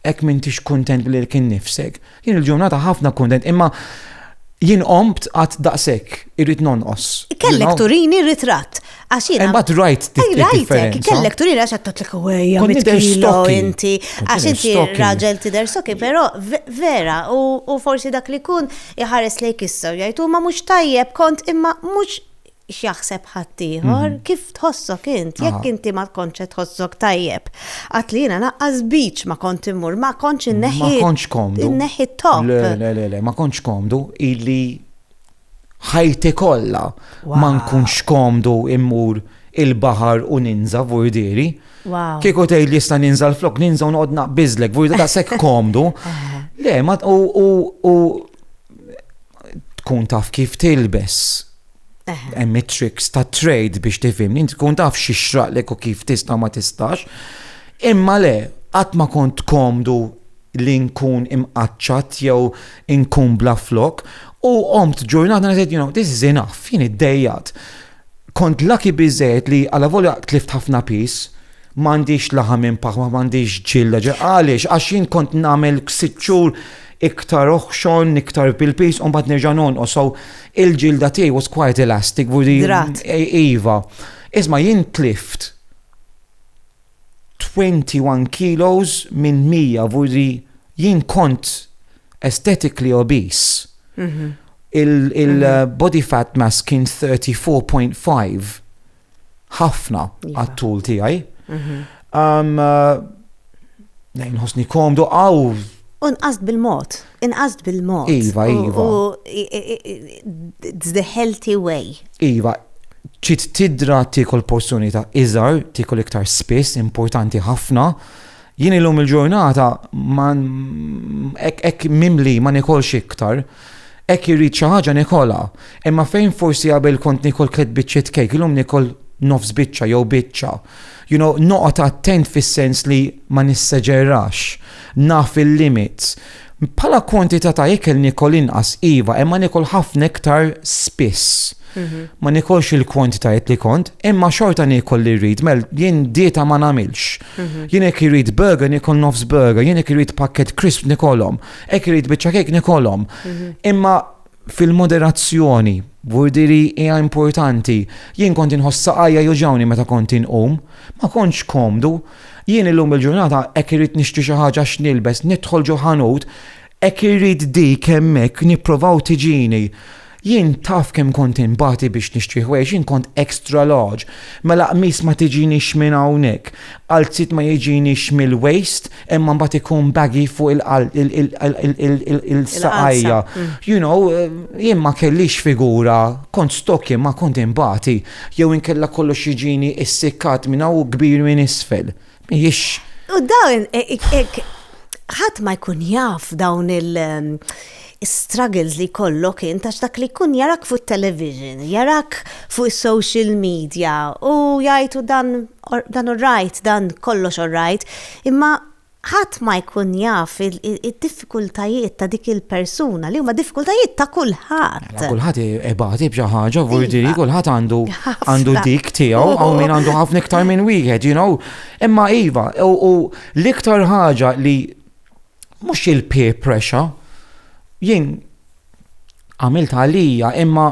[SPEAKER 1] hekk m'intix kuntent lilek innifsek. Jien il-ġurnata ħafna kuntent imma jien qomt qatt daqshekk irrid nonqos. Kellek turini ritratt għax jien. Imbagħad rajt Rajtek, kellek turini għax għattotlek għajja mitkilo inti għax inti raġel tidher soki, però vera u forsi dak li kun iħares lejk issa jgħid huma mhux tajjeb kont imma mhux x'jaħseb ħaddieħor, kif tħossok int, jekk inti ma tkontx qed tħossok tajjeb. Qatt li jiena naqqas beach ma kont immur, ma kontx inneħħi. Ma kontx komdu. Inneħħi top. Le, le, le, le, ma kontx komdu illi ħajti kollha ma nkunx komdu immur il-baħar u ninża vurdiri. Kieku tgħid li jista' ninża l-flok, ninża u noqgħod naqbiżlek, vurdiri ta' sekk komdu. Le, ma u tkun taf kif tilbes Hemm it-tricks ta' trade biex tifhimni, inti tkun taf xi xraqlek u kif tista' ma tistax. Imma le, qatt ma kont komdu li nkun imqaċċat jew inkun bla flok u qomt ġurnata ngħid you know, this is enough, jien iddejjat. Kont laki biżejjed li għala volja tlift ħafna pis, Ma għandix laħam minn paħ, ma għandix ġilda ġe għaliex, għax jien kont nagħmel sitt xhur iktar oħxon, iktar bil-pis, u mbagħad nerġa' nonqos. So il-ġilda tiegħi was quite elastic. Drat. Iva. Isma' jien tlift 21 kilos minn 100 vuri jien kont aesthetically obese. Il-body fat mass kien 34.5. ħafna iva. għat-tul tiegħi. Nejn ħosni komdu għaw. Unqast bil-mod, inqast bil-mod. Iva, iva. The healthy way. Iva, ċit tidra tikol porzjoni ta' iżar, tikol iktar spiss, importanti ħafna. Jien illum il-ġurnata, ek mimli ma nikolx iktar, Hekk irrid xi ħaġa nikolha. Imma fejn forsi qabel kont nikol tliet biċċiet kejk, illum nikol nofs biċċa jew biċċa. You know, noqgħod attent fis-sens li ma nisseġerax, naf il-limits. Bħala kwantità ta' ikel nikol inqas iva, imma nikol ħafna iktar spiss. Mhm. Ma nikolx il-kwantitajiet li kont, imma xorta nikol li rrid, mel jien dieta ma nagħmilx. Mhm. Jien hekk irrid burger nikol nofs burger, jien hekk irrid pakket crisp nikolhom. Ek irid biċċa kejk nikolhom. Mhm. Imma fil-moderazzjoni, burdiri hija importanti. Jien kont inħossa għajja juġawni meta kont inqum, ma kontx komdu. Jien illum il-ġurnata hekk irid nixtri xi ħaġa x'nilbes, nidħol ġo ħanut, hekk irid dik hemmhekk nipprovaw tiġini. Jien taf kemm kont inbati biex nixtri ħwejjeġ, jien kont extra large. Mela qmis ma tiġinix minn hawnhekk, qalziet ma jiġinix mill-waist imma mbagħad ikun baggy fuq il-saqajja. You know, jien ma kellix figura, kont stocky imma kont inbati. Jew inkella kollox jiġini ssikkat minn hawn u kbir minn isfel. Jiex. U dawn, e, e, e, ħadd ma jkun jaf dawn il- um, struggles li kollok int għax dak li kun jarak fuq television, jarak fuq social media u jajtu dan dan u rajt, dan kollox u rajt, imma ħadd ma jkun jaf il-diffikultajiet diffikultajiet ta' dik il-persuna li huma diffikultajiet ta' kulħadd. Mela, kulħadd ibati b'xi ħaġa, vurdiri, kulħadd għandu għandu dik tiegħu, hawn min għandu ħafna iktar minn wieħed, you know. Imma iva, u l-iktar ħaġa li mhux il-peer pressure, jien għamilt għalija imma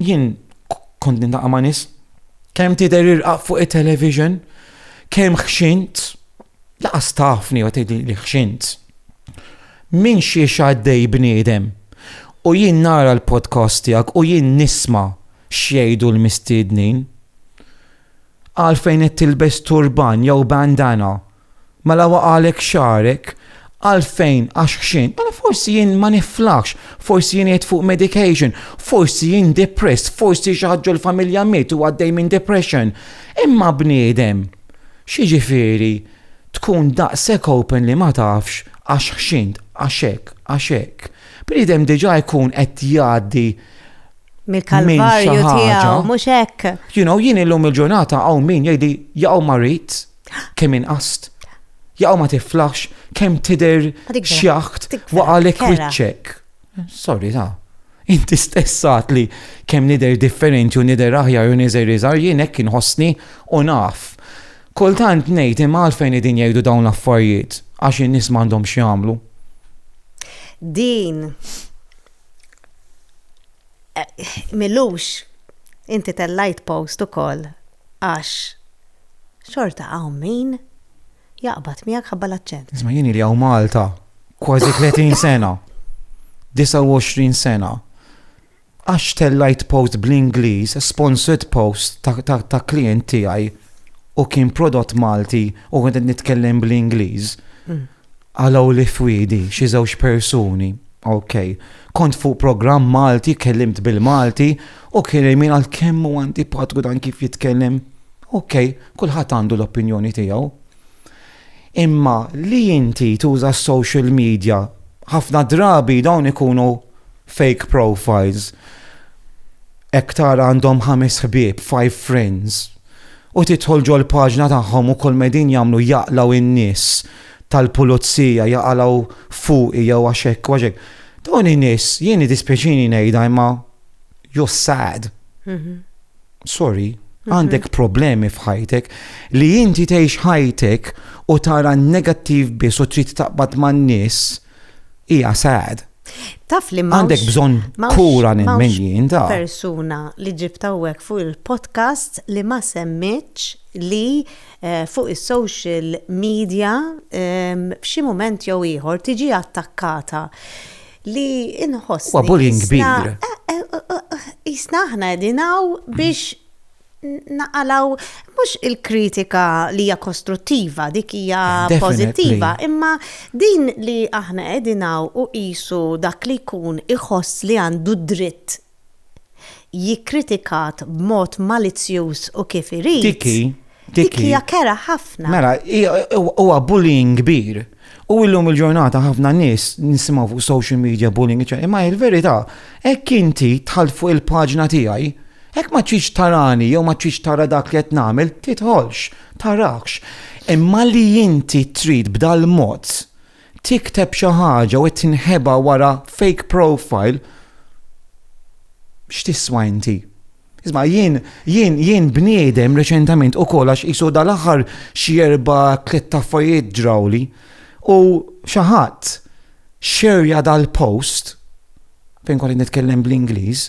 [SPEAKER 1] jien kont nindaqa ma' nis kemm tidher irqaq fuq it-television, kemm ħxint, Laqas tafni u tgħidli li ħxint. Minn xiex għaddej bniedem. U jien nara l-podcast tiegħek u jien nisma' x'jgħidu l-mistiednin. Għalfejn qed tilbes turban jew bandana? Mela waqalek xagħrek? Għalfejn għax ħxint? Mela forsi jien ma niflaħx, forsi jien qed fuq medication, forsi jien depressed, forsi xi ħaġġu l-familja miet u għaddej minn depression. Imma bniedem. X'jiġifieri tkun daqshekk open li ma tafx għax ħxint, għax hekk, għax hekk. Bniedem diġà jkun qed jgħaddi mill-kalvarju tiegħu, mhux hekk. You know, jien illum il-ġurnata hawn min jgħidi jaqgħu marit kemm inqast. Jaqgħu ma tiflaħx kemm tidher xjaħt waqgħalek wiċċek. Sorry ta. Inti stess għad li kemm nidher differenti u nidher aħjar u niżgħir iżgħar jien hekk inħossni u naf. Kultant ngħid imma għalfejn qegħdin jgħidu dawn l-affarijiet? Għax in-nies m'għandhomx x'jagħmlu. Din Milux inti tellajt post ukoll għax xorta hawn min Jaqbad miegħek ħabba l-aċċent. Isma' jien ili hawn Malta kważi 30 sena. 29 sena. Għax tellajt post bl-Ingliż, sponsored post ta' klient tiegħi u kien prodott Malti u għedet nitkellem bl-Ingliż. Mm. Għalaw li fwidi xi żewġ persuni. Ok, kont fuq program Malti, kellimt bil-Malti, u kien min għal kemmu għanti patku dan kif jitkellem Ok, kulħadd għandu l-opinjoni tiegħu. Imma li inti tuża s-social media, ħafna drabi dawn ikunu fake profiles, hekk tara għandhom ħames ħbieb, five friends, u tidħol ġol-paġna tagħhom u kull ma qegħdin jagħmlu jaqlgħu n-nies tal-pulizija, jaqalgħu fuqi jew għax hekk u għax hekk. Dawn in-nies, jien dispjaċini ngħidha imma you're sad. Mhm. sorry, mhm. għandek problemi f'ħajtek li inti tgħix ħajtek u tara negattiv biss u trid taqbad man-nies hija sad. Taf li ma. Għandek bżon kura minn minn da. Persuna li ġibtawek fuq il-podcast li ma semmitx li eh, fuq il-social media eh, f'xi moment jew ieħor tiġi attakkata. li inħoss. Huwa bullying kbir. Jisna eh, eh, eh, aħna dinaw biex naqalaw mhux il-kritika li hija kostruttiva, dik hija pożittiva, imma din li aħna qegħdinaw u qisu dak li jkun iħoss li għandu dritt Hi kkritikat b'mod malizzjuż u kif irid. Dik hi. Dik hija kerha ħafna. Mela, huwa bullying kbir. U illum il-ġurnata ħafna nies nisimgħu fuq social media bullying, eċċetera. Imma il-verità, hekk inti dħalt fuq il-paġna tiegħi, hekk ma tridx tarani jew ma tridx tara dak li qed nagħmel, tidħolx, tarakx. Imma li inti trid b'dal-mod, tikteb xi ħaġa u tinħeba wara fake profile x'tiswa inti? Isma, jien, jien, jien bniedem reċentament u kol għax jisu dal-axar xierba tlet taffarijiet ġrawli u xaħat xerja dal-post fejn kolli nitkellem bl-Ingliż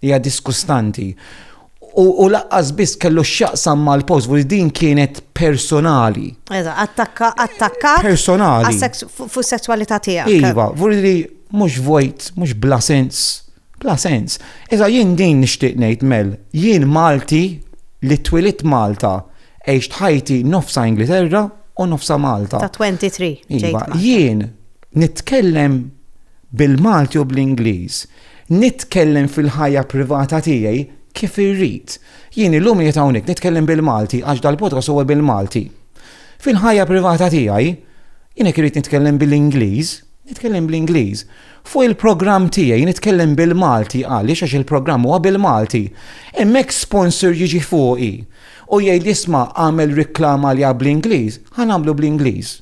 [SPEAKER 1] Hija diskustanti. U, u laqqas biss kellu x'jaqsam mal-post, u din kienet personali. Eżatt, attakka, attakka. Personali. Fuq sessualità tiegħek. Iva, vuri li mhux vojt, mhux bla sens. Bla sens. Iżda jien din nixtieq ngħid mel, jien Malti li twilit Malta, għex ħajti nofsa Ingilterra u nofsa Malta. Ta' 23. Iva, jien nitkellem bil-Malti u bl-Ingliż. Nitkellem fil-ħajja privata tiegħi kif irrid. Jien illum qiegħed hawnhekk nitkellem bil-Malti għax dal-podcast huwa bil-Malti. Fil-ħajja privata tiegħi, jien jekk irrid nitkellem bil-Ingliż, nitkellem bl-Ingliż. Fuq il-programm tiegħi nitkellem bil-Malti għaliex għax il-programm huwa bil-Malti. Hemmhekk sponsor jiġi fuqi u jgħid isma' għamel riklama li bl-Ingliż, ħa nagħmlu bl-Ingliż.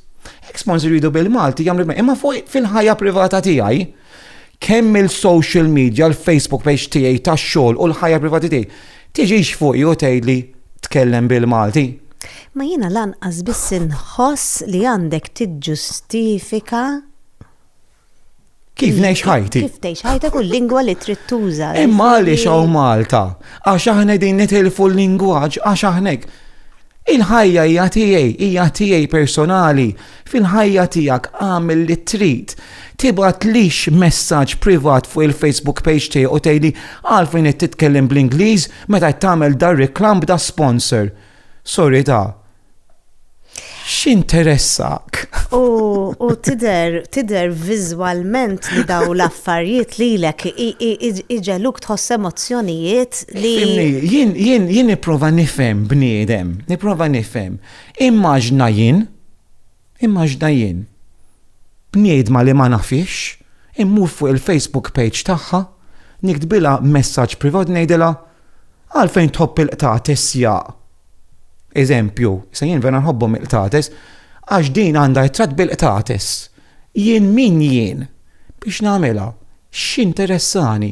[SPEAKER 1] Hekk sponsor jridu bil-Malti jagħmlu imma fuq fil-ħajja privata tiegħi Kemm il-social media, l-Facebook page tiegħi tax-xogħol u l-ħajja privati tiegħi tiġix fuqi u tgħidli tkellem bil-Malti. Ma jiena lanqas biss inħoss li għandek tiġġustifika Kif ngħix ħajti? Kif tgħix ħajta kull lingwa li trid tuża. Imma għaliex hawn Malta? Għax aħna din nitilfu l-lingwaġġ għax aħnek. Il-ħajja hija tiegħi, hija tiegħi personali. Fil-ħajja tiegħek agħmel li trid. Tibgħatlix messaġġ privat fuq il-Facebook page tiegħi u tgħidli għalfejn qed titkellem bl-Ingliż meta qed tagħmel dar reklam b'da sponsor. Sorry ta' x'interessak? U, u tider, tider vizualment li daw l-affarijiet li l-ek iġeluk tħoss emozjonijiet li. Jien, jien, jien niprofa nifem bniedem, niprofa nifem. Immaġna jien, immaġna jien, bniedma li ma nafhiex, immur fuq il-Facebook page tagħha, niktbilha messaġġ privat ngħidilha, Għalfejn tħobb il-qtates jaq? Eżempju, issa jien vera nħobbhom il-qtates, għax din għandha ritratt bil-qtates. Jien min jien biex nagħmilha? X'interessani?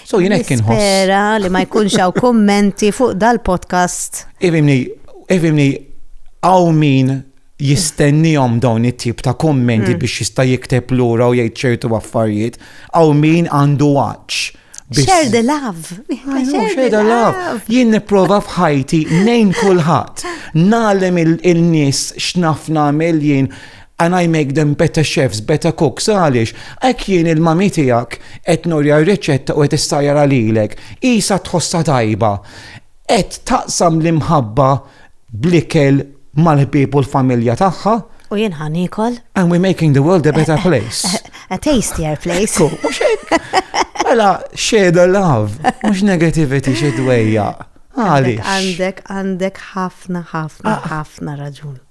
[SPEAKER 1] So jien hekk inħoss. Spera li ma jkunx hawn kummenti fuq dal-podcast. Ifimni, ifimni, hawn min jistennihom dawn it-tip ta' kummenti mm. biex jista' jikteb lura u jgħid ċertu affarijiet, hawn min għandu għaġġ Share the love. Share the love. Jien niprofa f'ħajti nejn kulħadd. Nalem il-nies x'naf nagħmel jien And I make them better chefs, better cooks, għaliex? Hekk jien il-mami tiegħek qed nurja r-riċetta u qed issajjarha lilek. Qisha tħossha tajba. Qed taqsam l-imħabba bl-ikel mal-ħbieb u l-familja tagħha. U jien ħa niekol. And we're making the world a better eh, eh, place. Eh, a tastier place. Cool, mhux hekk. Mela, share the love, mhux negativity xi dwejja. Għaliex. Għandek, għandek ħafna, ħafna, ah. ħafna raġun.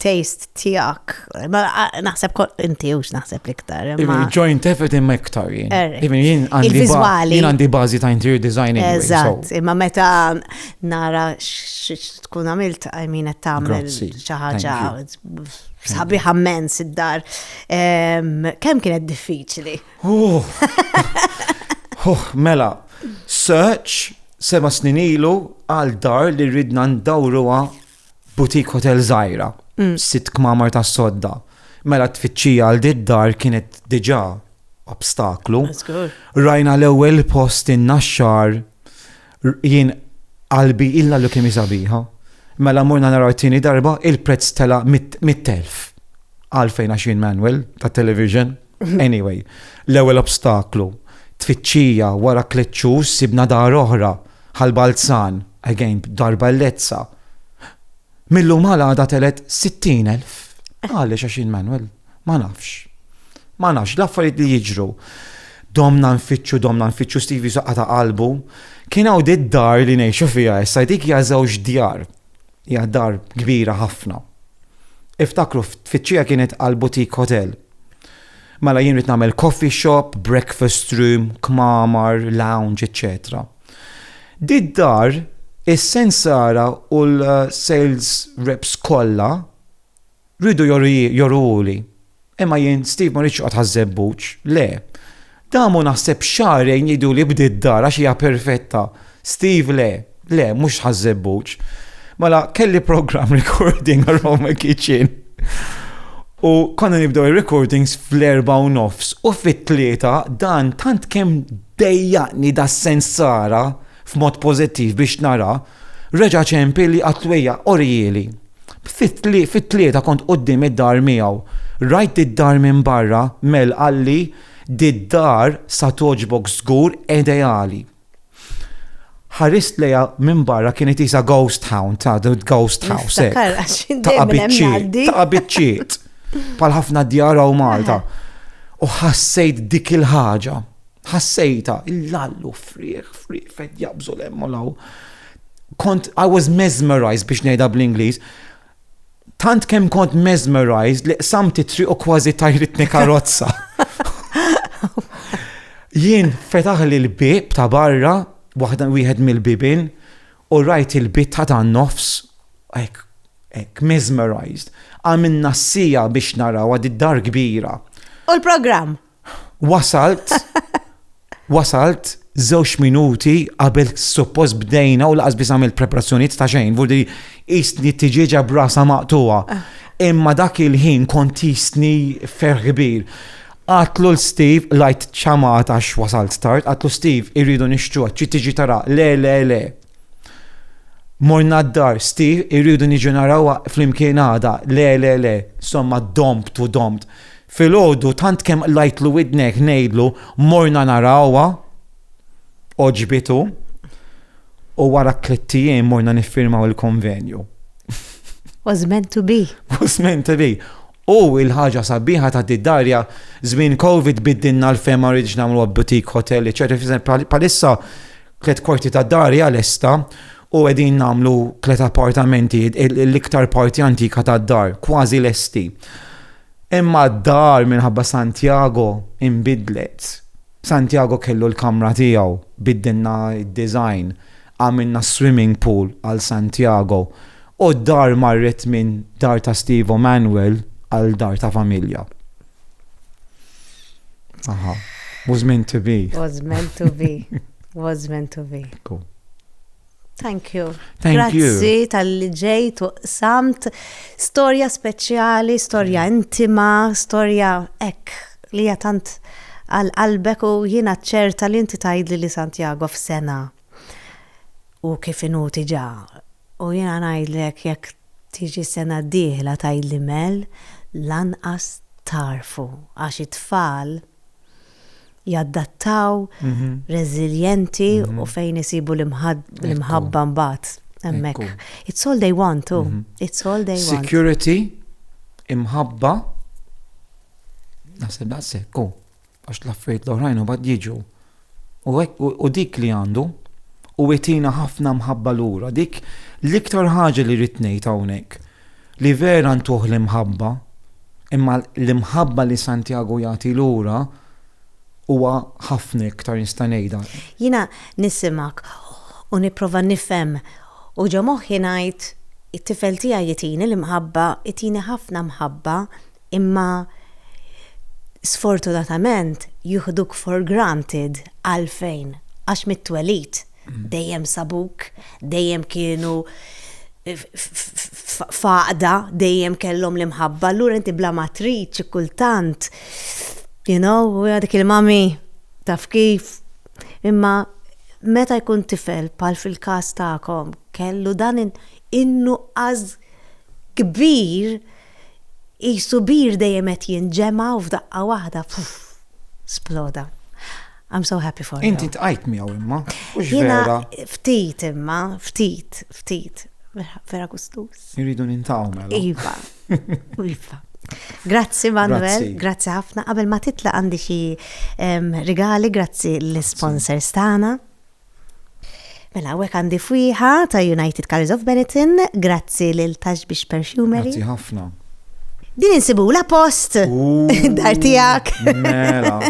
[SPEAKER 1] taste tijak. Ma naħseb kol inti ux naħseb liktar. Joint effort imma iktar jien. Er, jien għandi bazi ta' interior design. Eżat, imma meta nara tkun għamilt għajmina tamel xaħġa sabi ħammen id-dar. Kem kienet diffiċli? Oh. Oh, mela, search seba snin ilu għal dar li ridna ndawruha boutique hotel żgħira, mm. sitt kmamar ta' sodda. Mela tfittxija għal did-dar kienet diġà obstaklu. Rajna l-ewwel post in-naxxar jien qalbi illa li kemm sabiħa. Mela morna naraw tieni darba il-prezz tela' mit-telf. Għalfejn għax jien Manuel ta' television. Anyway, l-ewwel obstaklu, tfittxija wara tliet xhur sibna dar oħra, Ħal Balzan, again dar bellezza. Mil-lum għal għada telet 60,000. Għaliex għax jien Manuel, ma nafx. Ma nafx, l-affarijiet li jiġru. Domna nfittxu, domna nfittxu Stevie saqqa ta' qalbu. Kien hawn dar li ngħixu fiha issa dik hija żewġ djar. Hija dar kbira ħafna. Iftakru, tfittxija kienet għal boutique hotel. Mela jien rrid nagħmel coffee shop, breakfast room, kmamar, lounge, eċċetera. Did-dar is-sensara u l-sales reps kollha Riedu joruhuli. Imma jien, Steve, ma rridx noqgħod għaż-żebbuġ. Le. Damu naħseb xahrejn jgħiduli bdiet dar għax hija perfetta. Steve, Le. Le, mhux għaż-żebbuġ. Mela, kelli programm recording aroma kitchen. U konna nibdew ir-recordings fl-erbgħa u nofs u fit-tlieta dan tant kemm dejjaqni das-sens sara f'mod pożittiv biex nara, reġa' ċempilli qatt twejjaq, orihieli. Fit-tlieta kont quddiem id-dar miegħu. Rajt did-dar minn barra, Mel qalli, Did-dar sa togħġbok żgur, ideali. Ħarist lejha minn barra kienet qisha ghost town, ta' ghost house. Ta' biċċiet, ta' biċċiet. Pal ħafna djar u Malta. U ħassejt dik il-ħaġa. Ħassejtha, il-lall u frieħ, frieħ, fed jaqbżu l-hemm u l-hawn. Kont, I was mesmerized biex ngħidha bl-Ingliż. Tant kemm kont mesmerized li qsamt it-triq u kważi tajritni karozza. Jien fetaħ li l-bib ta' barra, waħda wieħed mill-bibin, u rajt il-bit ta' dan nofs, ek, ek, mesmerized. Għamilna s-sija biex naraw għad id-dar kbira. U l-program? Wasalt, wasalt żewġ minuti qabel suppost bdejna u laqas biss għamil preparazzjonijiet ta' xejn, vudi jistni tiġieġa brasa maqtuwa. Ah. Imma dak il-ħin kont jistni ferħ kbir. Għatlu l-Steve, lajt ċamat għax wasalt tard, għatlu Steve, irridu nixtru, ċi tiġi tara, le, le, le. Morna d-dar, Steve, irridu niġu narawa fl-imkien għada, le, le, le. Somma domt u domt. Filgħodu tant kemm qlajtlu widnek ngħidlu morna narawha, għoġbitu, u wara tlitt ijiem morna niffirmaw il-konvenju. Was meant to be. Was meant to be. U il-ħaġa sabiħa ta' did-darja, żmien Covid biddinna l-fema rridx nagħmlu boutique hotel, eċetera. Palissa tliet korti ta' darja lesta u qegħdin nagħmlu tliet appartamenti l-iktar parti antika tad-dar, kważi lesti. Imma d-dar minħabba Santiago inbidlet. Santiago kellu l-kamra tiegħu, biddilna d-design, għamilna s-swimming pool għal Santiago u d-dar marret minn dar ta' Steve u Manuel għal dar ta' familja. Aha. Was meant to be. Was meant to be. Was meant to be. Cool. Thank you. Thank Grazzi tal-li ġejt u samt storja speċjali, storja intima, storja ek li jatant għal-qalbek u jina ċerta li inti tajdli li Santiago f'sena u kif inu tiġa. U jina najdlek jek tiġi sena diħla tajdli mel lanqas tarfu għax it-tfal jaddattaw, reżiljenti u fejn isibu l-imħabba mbagħad hemmhekk. It's all they want too. It's all they want. Security, imħabba, naħseb daqshekk, u għax l-affarijiet l-oħrajn u bad jiġu. U dik li għandu, u għetina ħafna mħabba lura, dik l-iktar ħaġa li rrid ngħid hawnhekk. Li vera ntuh l-imħabba, imma l-imħabba li Santjagu jagħti lura huwa ħafna iktar, nista' ngħidha. Jiena nisimgħek u nipprova nifhem u ġo moħħi ngħid, it-tifel tiegħi jitini l-imħabba, itini ħafna mħabba, imma sfortunatament jiħduk for granted, għalfejn? Għax mit-twelid dejjem sabuk, dejjem kienu faqda, dejjem kellhom l-imħabba, allura inti bla ma trid xi kultant, you know, dik il-mami taf kif. Imma meta jkun tifel bħal fil-każ tagħkom kellu dan in-nuqqas kbir, Qisu bir dejjem qed jinġema' u f'daqqa waħda sploda. I'm so happy for you. Inti tqajt miegħu imma. Jiena ftit imma, ftit, ftit. Vera gustus. Irridu nintaw mela. Iva. Iva. Grazzi Manuel, grazzi ħafna. Qabel ma titla' għandi xi rigali, grazzi l-sponsors tagħna. Mela hawnhekk għandi fwieħa ta' United Colours of Benetton, grazzi lil Tax Biex Perfumery. Grazzi ħafna. Din insibula post dar tijak. Mela,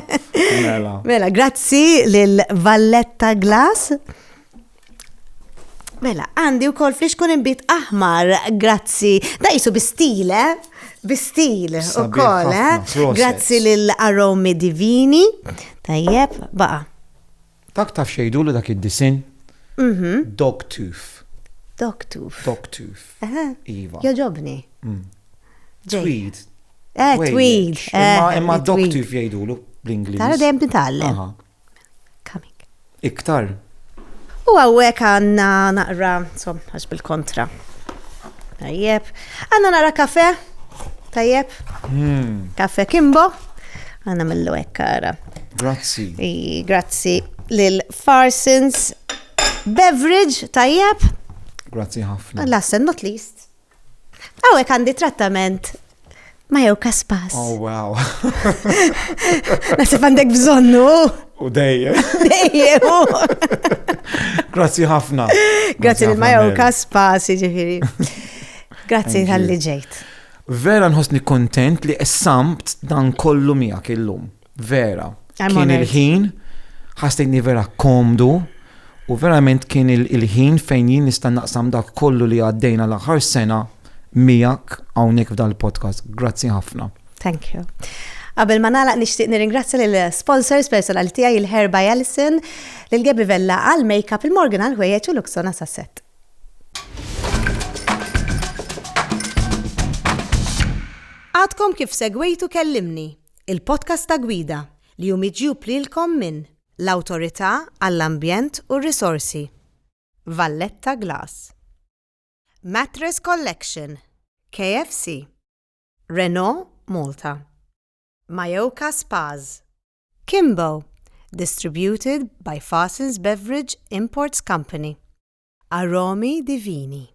[SPEAKER 1] mela. Mela, grazzi lil Valletta Glass. Mela, għandi u kol flix kun imbit aħmar, grazzi. Da jisu bistile, bistil u kol, eh? Grazzi lil Aromi Divini. Tajjeb, baqa. Dak taf x'jgħidulu dak id-disinn? Mhm. Dog tooth. Dog tooth. Dog tooth. Eħe. Iva. Jogħġobni. Ġej. Tweed. Eh, Wejjeċ. tweed. Imma eh, imma dog tweed. tooth jgħidulu bl-Ingliż. Tara dejjem nitgħallem. Aha. Coming. Iktar. U għawek għanna naqra, som, għax bil-kontra. Tajjeb. Għanna naqra kafe. Tajjeb. Kafe kimbo. Għanna mill-lu ekkara. Grazzi. Grazzi lil Farsons Beverage tajjeb. Grazzi ħafna. Last and not least. Għawek għandi trattament ma jew kaspas. Oh, wow. Nasib għandek bżonnu. U dejje. Dejje. Grazzi ħafna. Grazzi lil ma jew kaspas, ġifiri. Grazzi tal-li ġejt. Vera nħossni kontent li qessamt dan kollu miegħek illum. Vera. Kien il-ħin, ħassejtni vera komdu, u verament kien il-ħin fejn jien nista' naqsam dak kollu li għaddejna l-aħħar sena miegħek hawnhekk f'dal-podcast. Grazzi ħafna. Thank you. Qabel ma nagħlaq nixtieq nirringrazzja lil sponsors personali tiegħi il-Herba Allison, lil Gebi Vella għal makeup il-Morgan għal ħwejjeġ u Luxona sasset. Għadkom kif segwejtu Kellimni, il-podcast ta' Gwida li hu miġjub lilkom minn l-Awtorità għall-Ambjent u r-Risorsi, Valletta Glass, Mattress Collection, KFC, Renault Malta, Majoka Spas, Kimbo, distributed by Fasens Beverage Imports Company, Aromi di vini.